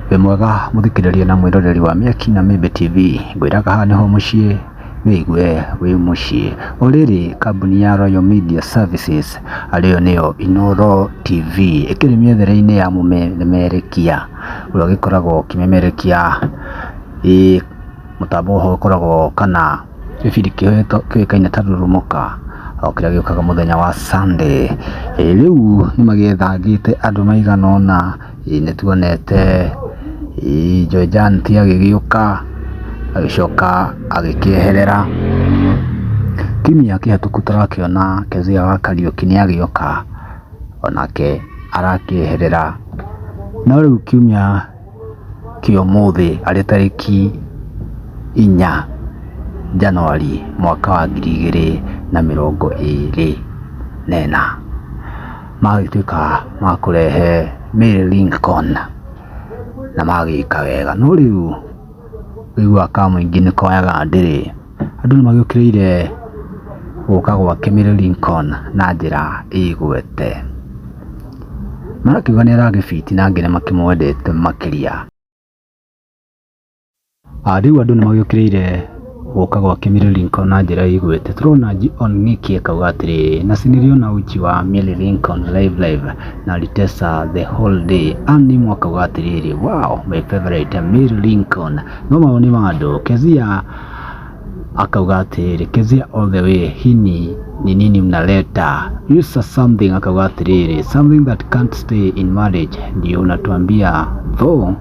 Wĩ mwega mũthikĩrĩria na mwĩroreri wa Mĩaki na Mĩmbĩ TV, ngwĩraga haha nĩho mũciĩ wĩigue wĩ mũciĩ. O rĩrĩ kambuni ya Royal Media Services arĩyo nĩyo Inooro TV ĩkĩrĩ mĩethere-inĩ ya mũmemerekia ũrĩa ũgĩkoragwo ũkĩmemerekia ĩ mũtambo ũhoro ũkoragwo kana gĩbindi kĩrĩa kĩũĩkaine ta Rurumuka o kĩrĩa gĩũkaga mũthenya wa Sunday. Rĩu nĩ magĩethangĩte andũ maigana ũna. Nĩtuonete Joe Janti agĩgĩũka agĩcoka agĩkĩeherera. Kiumia kĩhĩtũku tũrakĩona Kezia wa Kariũki nĩagĩũka onake arakĩeherera. No rĩu kiumia kĩa ũmũthĩ arĩ tarĩki inya Januari mwaka wa ngiri igĩrĩ na mĩrongo ĩrĩ na ĩna. magĩtuĩka ma kũrehe Mary Lincoln na magĩka wega. No rĩu ũiguaga ka mũingĩ nĩ koyaga ndĩrĩ, andũ nĩ magĩũkĩrĩire gũka gwake Mary Lincoln na njĩra ĩgwete. Marakiuga nĩ aragĩbiti na angĩ nĩ makĩmwendete makĩria. Ah, Rĩu andũ nĩ magĩũkĩrĩire gũka gwa Kimilly Lincoln na njĩra ĩigwĩte. Tũrona John Ng'ĩki akauga atĩrĩrĩ, na sinĩrio na uchi wa Milly Lincoln live live na Ritesa the whole day. Ann Nimu akauga atĩrĩrĩ, wow, my favorite Milly Lincoln. No mawoni ma andũ, Kezia akauga atĩrĩrĩ, Kezia all the way, hii ni ni nini mnaleta. Yusa something akauga atĩrĩrĩ, something that can't stay in marriage ndio unatuambia though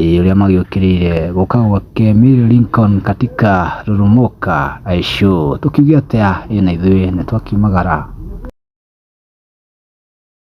Ĩĩ ũrĩa magĩũkĩrĩire gũka gwake Mary Lincoln katika Rurumuka Aishu, tũkiuge atĩa ĩĩ na ithuĩ nĩ twakiumagara.